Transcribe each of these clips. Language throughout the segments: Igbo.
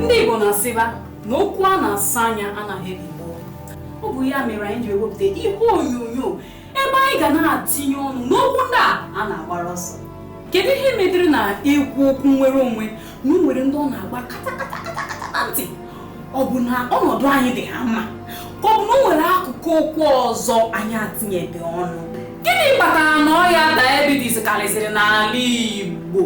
ndị Igbo na-asịba na okwu a na-asa anya anaghị ebi gboo ọ bụ ya mere anyị ji ewepụta ihe onyonyo ebe anyị ga na-atinye ọnụ n'okwu ndị a a na-agbara ọsọ kedu ihe mediri na e kwuo okwu nnwere onwe na o nwere ndị ọ na-agba katakatakata na ntị ọ bụ na ọnọdụ anyị dị ha mma ka ọ bụ na o nwere akụkụ okwu ọzọ anyị atinyebe ọnụ gịnị kpatara na ọya diabetes karịsịrị n'ala Igbo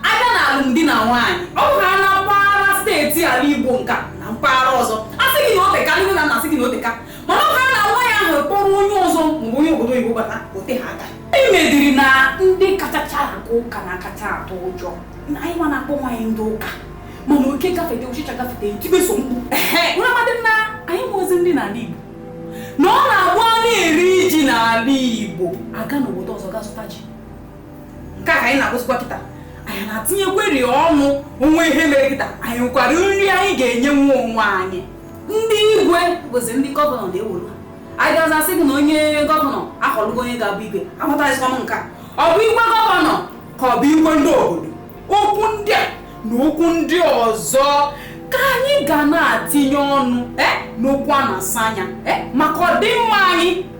Abịa na alụmdi na nwaanyị, ọ bụrụ na na mpaghara steeti ala Igbo nka na mpaghara ọzọ, a sị gị na o teka, ndị nne na nna asị gị na o teka. Mana ọ bụrụ na nwa ya ahụ kpọrọ onye ọzọ maọbụ onye obodo oyibo bata, o teghị aka. Ihe mediri na ndị kachacha aga ụka na akacha atụ ụjọ na anyị nwa na-akpọ onwe anyị ndị ụka mana oke gafete ụchịcha gafete e tibe sọ mkpu Ehe, ụnụ amadị na anyị ma ozi ndị n'ala Igbo na ọ na-abụ a na-eri ji n'ala Igbo aga n'obodo ọzọ ga zụta ji nke a ka anyị na-ekwuzikwa kịta anyị na-atinyekweri ọnụ o nwee ihe mere kịta anyị nwekwara nri anyị ga-enyenwu onwe anyị ndị igwe bụzi ndị gọvanọ na-ewolu anyị a gazi asị gị na onye gọvanọ ahọlụgo onye ga-abụ igwe amataghịzikwa m nke a ọ bụ igwe gọvanọ ka ọ bụ igwe ndị obodo okwu ndị a na okwu ndị ọzọ ka anyị ga na-atinye ọnụ eh, n'okwu a na-asa anya eh, maka ọdịmma anyị